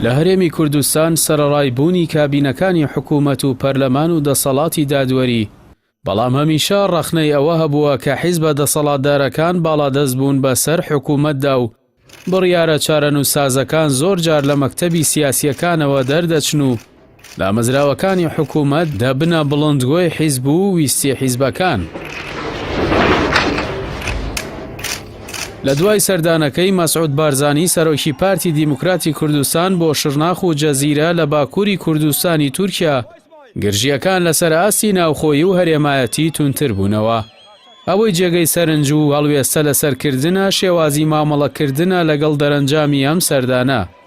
لە هەرێمی کوردستان سەرەڕای بوونی کابینەکانی حکوومەت و پەرلەمان و دەسەڵاتی دادوەری بەڵام هەمیشە ڕەخنەی ئەوە هەبووە کە حیزبە دەسەڵاتدارەکان باڵادەست بوون بەسەر حکوومەتدا و بڕیارە چارەنووسسازەکان زۆر جار لە مەکتەبی سیاسییەکانەوە دەردەچن و دامەزراوەکانی حکوومەت دەبنە بڵندگۆی حیزب و ویستی حیزبەکان. لە دوای سەردانەکەی مەسعود بارزانی سەرۆکی پارتی دیموکراتی کوردستان بۆ شرناخ و جەزیرە لە باکووری کوردستانی تورکیا گرژیەکان لەسەر ئاستی ناوخۆیی و هەرێمایەتی تونتر بوونەوە ئەوەی جێگەی سەرنج و هەڵوێستە لەسەرکردە شێوازی مامەڵەکردە لەگەڵ دەرەنجامی ئەم سەردانە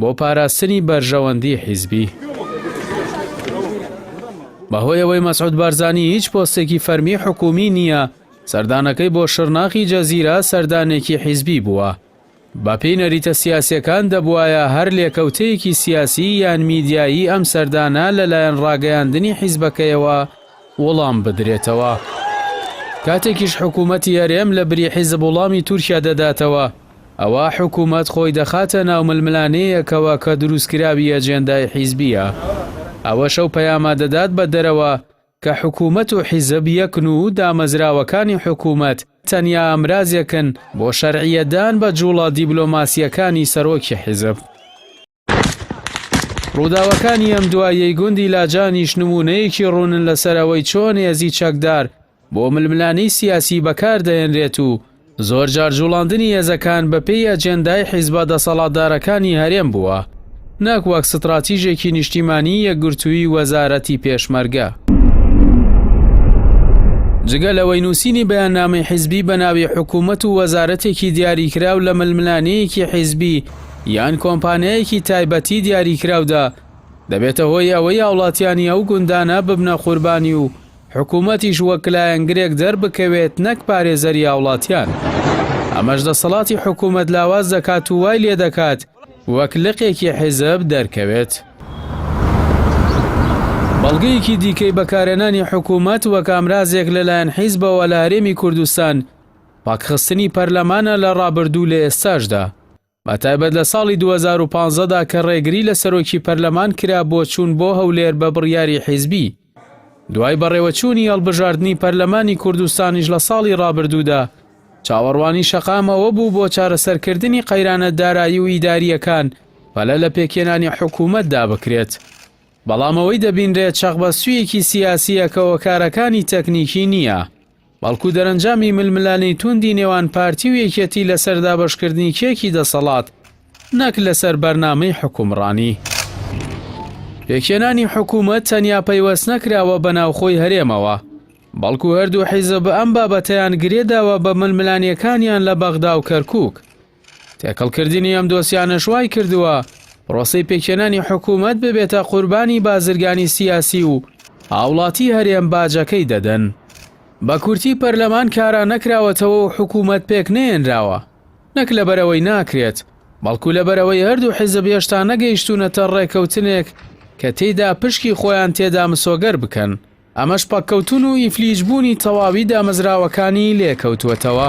بۆ پاراستنی بەرژەوەندی حیزبی. بەهۆی ئەوەی مەسعود بارزانی هیچ پۆستێکی فەرمی حکوومی نییە، سەردانەکەی بۆ شڕناخی جەزیرە سەردانێکی حیزبی بووە. بەپێی نەریتە سیاسیەکان دەبوایە هەر لێکەوتەیەکی سیاسی یان میدیایی ئەم سەردانە لەلایەن ڕاگەیاندنی حیزبەکەیەوە وڵام بدرێتەوە. کاتێکیش حکوومەتی هەرێم لە بری حیزب وڵامی تورکیا دەداتەوە، ئەوا حکومەت خۆی دەخاتە ناو ململانێیەکەوە کە دروستکراوی ئەجێندای حیزبییە. ئەوەش ئەو پەیامە دەدات بە دەرەوە کە حکومەت و حیزب یەکن و دامەزراوەکانی حکومەت تەنیا ئامرازێکن بۆ شەرعیەتدان بە جوڵە دیبلۆماسییەکانی سەرۆکی حیزب. ڕووداوەکانی ئەم دواییەی گوندی لاجانیش نموونەیەکی ڕوونن لەسەر ئەوەی چۆن هێزی چەکدار بۆ ململانێی سیاسی بەکاردەهێنرێت و زۆرجار جوڵاندنی هێزەکان بەپێی ئەجێندای حیزبە دەسەڵاتدارەکانی هەرێم بووە نەک وەک ستراتیژێکی نیشتیمانی یەکگرتووی وەزارەتی پێشمەرگە. جگە لەوەی نووسینی بەیاننامەی حیزبی بە ناوی حکوومەت و وەزارەتێکی دیاریکراو لە ململانێیەکی حیزبی یان کۆمپانیایەکی تایبەتی دیاریکراودا، دەبێتە هۆی ئەوەی هاوڵاتیانی ئەو گوندانە ببنە قوربانی و حکوومەتیش وەک لایەنگرێک دەربکەوێت نەک پارێزەری هاوڵاتیان. ئەمەش دەسەڵاتی حکوومەت لاواز دەکات و وای لێدەکات وەک لقێکی حیزب دەرکەوێت. بەڵگەیەکی دیکەی بەکارهێنانی حکوومەت وەک ئامرازێک لەلایەن حیزبەوە لە هەرێمی کوردستان، پاکخستنی پەرلەمانە لە ڕابردوو و لە ئێستاشدا، بە تایبەت لە ساڵی دوو هەزار و پازدە دا کە ڕێگری لە سەرۆکی پەرلەمان کرا بۆ چوون بۆ هەولێر بە بڕیاری حیزبی. دوای بەڕێوەچوونی هەڵبژاردنی پەرلەمانی کوردستانیش لە ساڵی ڕابردوودا، چاوەڕوانی شەقام ئەوە بوو بۆ چارەسەرکردنی قەیرانە دارایی و ئیدارییەکان پەلە لە پێکهێنانی حکوومەتدا بکرێت، بەڵام ئەوەی دەبینرێت شەقبەستوویەکی سیاسییە کە هۆکارەکانی تەکنیکی نییە. بەڵکو دەرەنجامی ململانێی توندی نێوان پارتی و یەکێتی لەسەر دابەشکردنی کێکی دەسەڵات نەک لەسەر بەرنامەی حوکمڕانی. پێکهێنانی حکوومەت تەنیا پەیوەست نەکراوە بە ناوخۆی هەرێمەوە، بەڵکو هەردوو حیزب ئەم بابەتەیان گرێداوە بە ململانێکانیان لە بەغدا و کەرکووک. تێکەڵکردنی ئەم دۆسیانەش وای کردووە پرۆسەی پێکهێنانی حکوومەت ببێتە قوربانی بازرگانی سیاسی و هاوڵاتی هەرێم باجەکەی دەدەن. بە کورتی پەرلەمان کارا نەکراوەتەوە و حکوومەت پێک نەێنراوە. نەک لەبەرئەوەی ناکرێت، بەڵکو لەبەرئەوەی هەردوو حیزب هێشتا نەگەیشتوونەتە ڕێکەوتنێک کە تێیدا پشکی خۆیان تێدا مسۆگەر بکەن. ئەمەش پەککەوتن و ئیفلیج بوونی تەواوی دامەزراوەکانی لێکەوتووەتەوە.